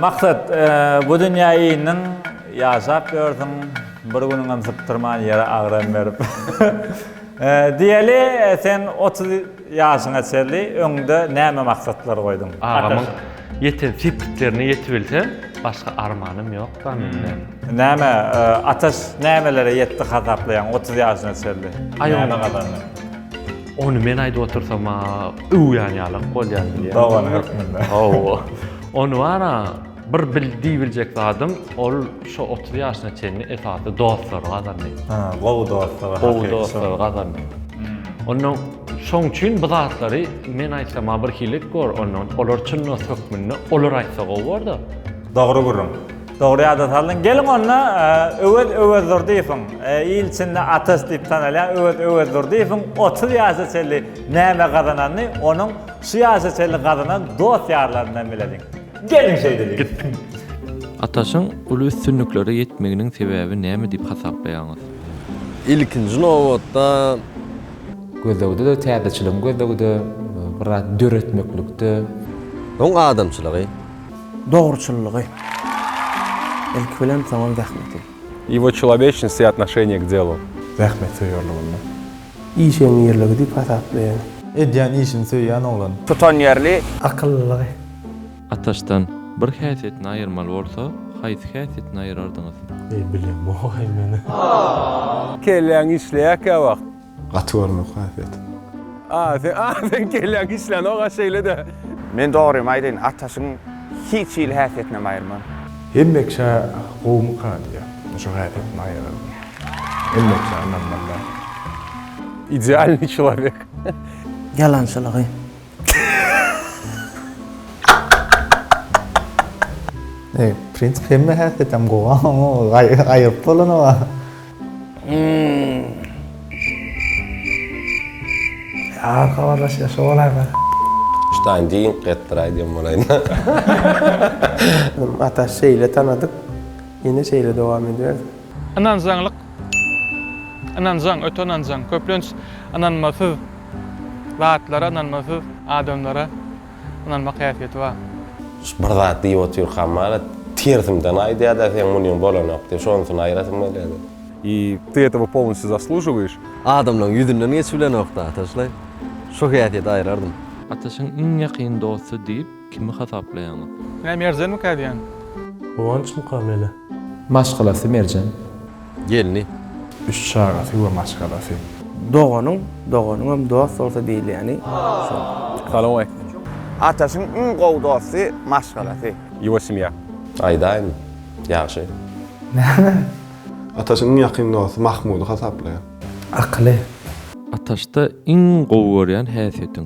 Maksat, bu dünýä indiň, ýaşap ýörsüň, bir günüňem sypdyrman ýere agram berip. Diýeli, sen otuz ýaşyňa çenli öňde näme maksatlar goýduň? Agamyň ýeten sepgitlerine ýetibilsem, başga armanym ýok da menden. Näme, Ataş nämelere ýetdi hasaplaýaň otuz ýaşyna çenli? Näme gazandy? Ony men aýdyp otursam-a öwýän ýalak bolýan diýýär. Dogany hökmünde. Hawa. Ony bar-a bir bil diýibiljek zadym, ol şu otuz ýaşyna çenli esasy dostlary gazandy. Ha, gowy dostlugy, hakyky Gowy dostlugy gazandy. Onnoň şoň üçin bu zatlary men aýtsam-a birhili gör, onnoň olar çyn dost hökmünde olar aýtsa gowy bor-da. Dogry gürrüň. Dogry ýada saldyň. Geliň onda Öwez Öwezdurdyýewiň il içinde atasy diýip tanalýan Öwez Öwezdurdyýewiň 30 ýaşa çenli näme gazananyny onuň şu ýaşa çenli gazanan dost-ýarlaryndan bileliň. Geliň şeýdeliň. Gitdim. Ataşyň uly üstünliklere ýetmeginiň sebäbi näme diýip hasaplaýaňyz? Ilkinji nobatda. Gözlegde-de, täzeçiligiň gözlegide, bir zat döretmeklikde. Oň adamçylygy. Dogruçyllygy, ilki bilen, soňam zähmeti. Ýewa çoloweçnost i atnoşeniýe k delu. Zähmetsöýerliginde. Işeňňirligi diýip hasaplaýan. Edýän işini söýýän oglan. Tutanýerli. Akyllylygy. Ataşdan bir häsiýetini aýyrmaly bolsa, haýsy häsiýetini aýyrardyňyz? Eý, bilemok-aý men. Kelläň işleýärkä wagt. Gaty görmek hasyýet. A sen a sen kelläň işlänok-a şeýle-de. Men dogrymy aýdaýyn Ataşyň hiç hili häsiýetinem aýyrman. Hemmeçe gowmyka diýýär. Men şo häsiýetimi aýyrardym. Hemmeçe ynanmazlar. Idealnyý çolowek. Ýalançylygy. Eý, prins hemme häsiýetem gowy, amma gaýyp bolany bar. Ýa habarlaşýa şo bolaýma. Ştaýn diýiň getdiraý diýen bolaýna. Ataş şeýle tanadyk, ýene şeýle dowam edibersin. Ynanjaňlyk, ynanjaň, öte ynanjaň, köplenç ynanmasyz. Zatlara ynanmasyz adamlara ynanmak häsiýeti bar. Şu bir zat diýip otyrkam marat tersimden aýdýada seň munyň bolanok diýip şonusyn aýyrasym gelýädi. I ty etawa polnostyu zaslužuwyş. Adamlaň ýüzünden geçip bilenokda ataşlaý şo häsiýeti aýyrardym. Ataşyň iň ýakyn dosty diýip. Kimi hasaplaýaňyz? Ine Merjenmikä diýen. Guwançmyka mele? Maşgalasy Merjen. Gelni. Üç çagasy we maşgalasy. Doganyň, doganyňam dost bolsa diýilýäni şol. Salowmaleýkim. Ataşyň iň gowy dosty, maşgalasy. Ýygy semýa. Aýdaýmy? Ýagşy. Näme? Ataşyň iň ýakyn dosty Mahmudy hasaplaýar. Akyly. Ataşda iň gowy görýän häsiýetiň?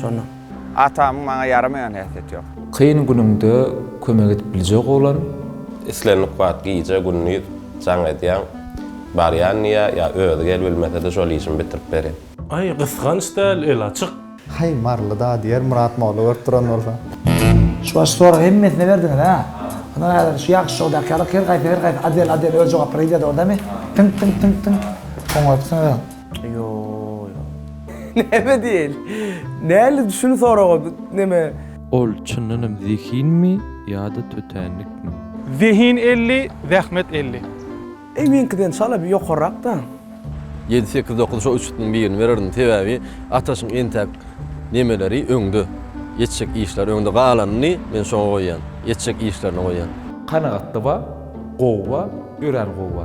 şonda. Atamyň maňa ýaramaýan häsiýeti ýok. Kyn günüňde kömek edip biljek oglan. Islendik wagt gije, gündiz jaň edýäň. Barýan diýýä, ýa özi gel bilmesede şol işimi bitirip berýän. Aý gysganç däl el açyk. Haý Marlyda diýer Myrat molla görüp duran bolsa. Şu başky soragy hemmesine berdiňiz hä. Ynha häzir şu ýagşy şou daky ýaly her gaýsy her gaýsy adel adel öz jogaplary gidýär dogry dämi? Tyňk tyňk tyňk tyňk. Oňaýypsyňyz. Ýooo ýok. Näme diýeli? Näli şuny soraga neme? Ol çyndanam zehinmi ýa-da tötänlikmi? Zehin elli, zähmet elli. Eý meňkiden çala bir ýokarrakda. Ýedi sekiz dokuz şo üç itniň birini bererdim sebäbi Ataşyň entäk nemeleri öňde etjek işleri öňde galanyny men şoňa goýýan etjek işlerine goýýan. Kanagatda ba, gowy ba, örän gowy ba.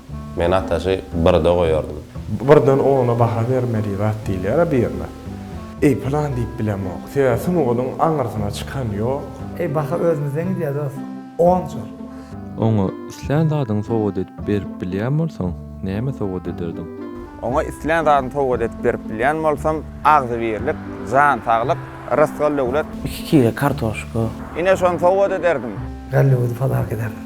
Men ataşy birde goýardym. Birden ona baha bermeli zat diýilýär-a birine. Eý, pylan diýip bilemok. Sebäbi sungatyň aňyrsyna çykan ýok. Eý, baha özümizden gidýär dost. Onjur. Oňa islän zadyňy sowgat edip berip bilýän bolsaň, näme sowgat ederdiň? Oňa islän zadyny sowgat edip berip bilýän bolsam, agzybirlik, jan saglyk, rysgal-döwlet. Iki kile kartoşka. Ine, şony sowgat ederdim. Gallybyzy padaga ederdim.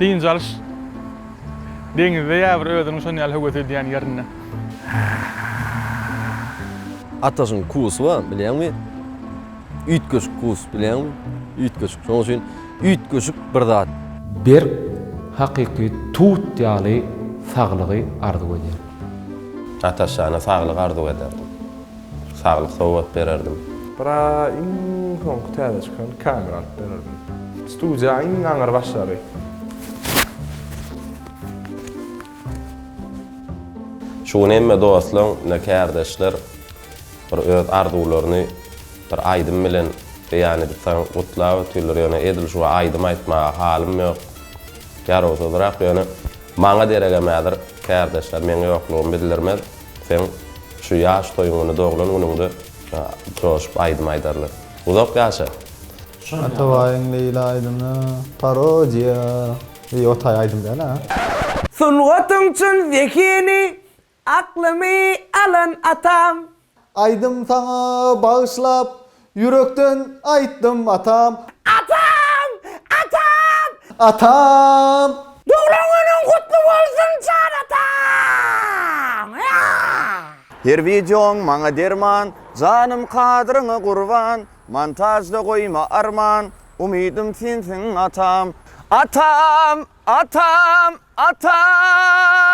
Dynç alyş deňizde ýa bir özüniň şon ýaly höwes edýän ýerinde. Ataşyň kusy bar, bilýäňmi? Üýtgeşik kus, bilýäňmi? Üýtgeşik. Şonuň üçin üýtgeşik bir zat. Berk, hakyky tut ýaly saglygy arzuw edýärdim. Ataş jana saglyk arzuw ederdim. Saglyk sowgat bererdim. Bra iň soňky täze çykan kamera alyp bererdim. Studiýa iň aňyr başlary. Şu gün hemme dostlaň ne kärdeşler bir öz arzuwlaryny bir aýdym bilen beýan edip saňa gutlap ötýärler ýöne edil şu aýdym aýtmaga halym ýok ýarawsyzrak ýöne maňa deregemädir kärdeşler meň ýoklugymy bildirmez. Seň şu ýaş toýuňyny doglan günüňde joşup aýdym aýdarlar. Uzak ýaşa! Atabaýyň Leýla aýdymy parodiýa. Eý o taý aýdym däl a. Sungatyň çyn zehini, aklymy alan atam. Aýdym saňa bagyşlap, Ýürekden aýtdym atam. Atam! Atam! Atam! Doglan günüň gutly bolsun jan atam! Aa! Her wideoň maňa derman, Janym kadryňa gurban, Montažda goýma arman, Umydym sensiň atam! Atam! Atam! Atam!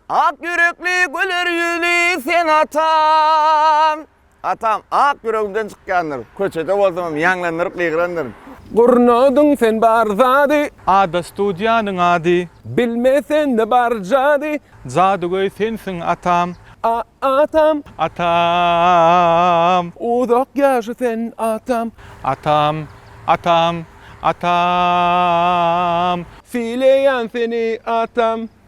Ak ýürekli güler ýüzli sen atam! Atam ak ýüregimden çykýandyr. Köçede bolsamam ýaňlandyryp gygrandyryn. Gurnadyň sen bar zady. Ada studiýanyň ady. Bilme sende bar jady. Jadygöý sensiň atam. A-atam. Atam. Uzak ýaşa sen atam. Atam, atam, atam. Sylaýan seni atam.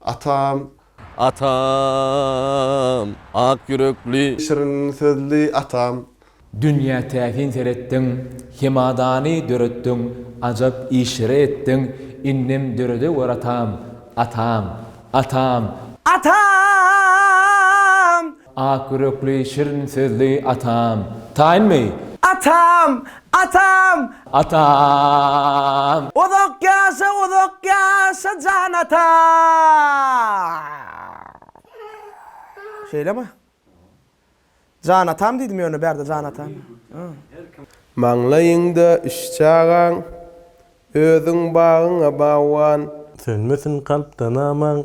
Atam. Atam. Ak ýürekli. Şirin sözli atam. Dünýä täsin seretdiň, Hemadany döretdiň, Ajap işleri etdiň, Indem döredewör atam, Atam. Atam. Atam. Ak ýürekli, şirin sözli atam. Taýynmy? Atam! Atam! Atam! Uzak ýaşa, uzak ýaşa jan atam! Şeýlemi? Jan atam diýdim ýöne bärde jan atam. Maňlaýyňda üç çagaň. Özüň bagyňa bagban. Sönmesin kalpda namaň.